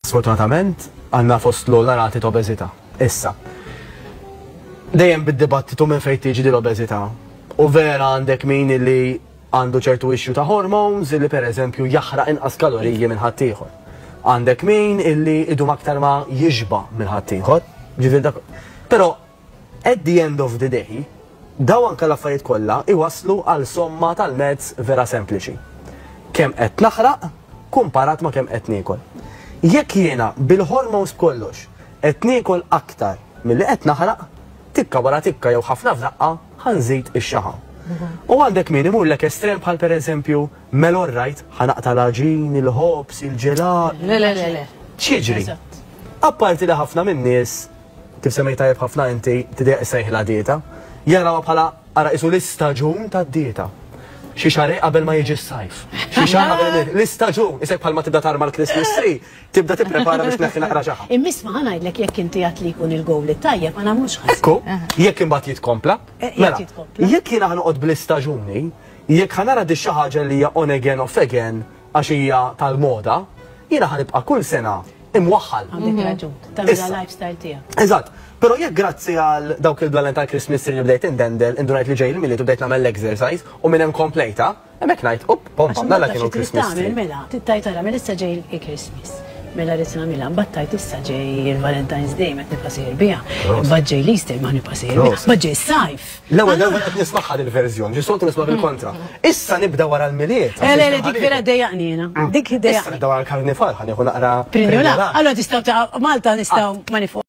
Sfortunatament, għandna fost l-ogħla rati ta' obeżità. Issa, dejjem bid-dibattitu minn fejn tiġi din l-obeżità. U vera għandek min li għandu ċertu issue ta' hormones illi pereżempju jaħraq inqas kaloriji minn ħaddieħor. Għandek min illi idum aktar ma jixba minn ħaddieħor. Ġifieri dak. Però At the end of the day, dawn anke l-affarijiet kollha jwasslu għal somma tal-maths vera sempliċi. Kemm qed naħraq kumparat ma' kemm qed niekol. Jekk jiena bil-hormones b'kollox qed niekol aktar milli qed naħraq, tikka wara tikka jew ħafna f'daqqa ħa nżid ix-xaħa. U għandek min imurlek estrem bħal pereżempju melon rajt ħa naqta' l-għaġin, il-ħobż, il-ġelat. Le le le le. X'jiġri? Apparti li ħafna min-nies Kif semmejt tajjeb ħafna inti, tidejjaq issejħilha dieta. Jarawha bħala ara qisu l-istaġun tad-dieta. Xi xahrejn qabel ma jiġi s-sajf. Xi xahar qabel l-istaġun, isek bħalma tibda tarma l-Christmas tree, tibda tipprepara biex tneħħi naqra ġaħa. Immiss ma ħa ngħidlek jekk inti għedt li jkun il-gowl it-tajjeb ma nagħmlux ħasra. Ekku, jekk imbagħad jitkompla. Mela, jekk jiena ħa noqgħod bl-istaġuni, jekk ħa nara di xi ħaġa li hija on again off again, għax hija tal-moda, jiena ħa nibqa' kull sena imwaħħal. Għandek raġun, tagħmilha lifestyle tiegħek. Eżatt, però jekk grazzi għal dawk il-blalen tal-Christmas tree li bdejt indendel, indunajt li ġej il-miliet u bdejt nagħmel l-exercise u minn hemm komplejta, hemmhekk ngħid, up, pom, pom, nalla kienu Christmas tree. Mela, tittaj tara, mela issa ġej il-Christmas. Mela rrit nagħmilha, battajt issa ġej il-Valentine's Day ma nibqa' sejjer biha. Imbagħad ġej l-Easter ma nibqa' sejjer biha. Imbagħad ġej sajf. L-ewwel darba qed nismagħha din il-verżjoni, xi soltu nisma' bil-kontra. Issa nibda wara l-Milied. Eh, le, le, dik vera dejaqni jiena. Dik dejaqni. Issa nibda wara l-Karnival, ħa nieħu naqra. Prinjola. Allora tistgħu ta' Malta nistgħu ma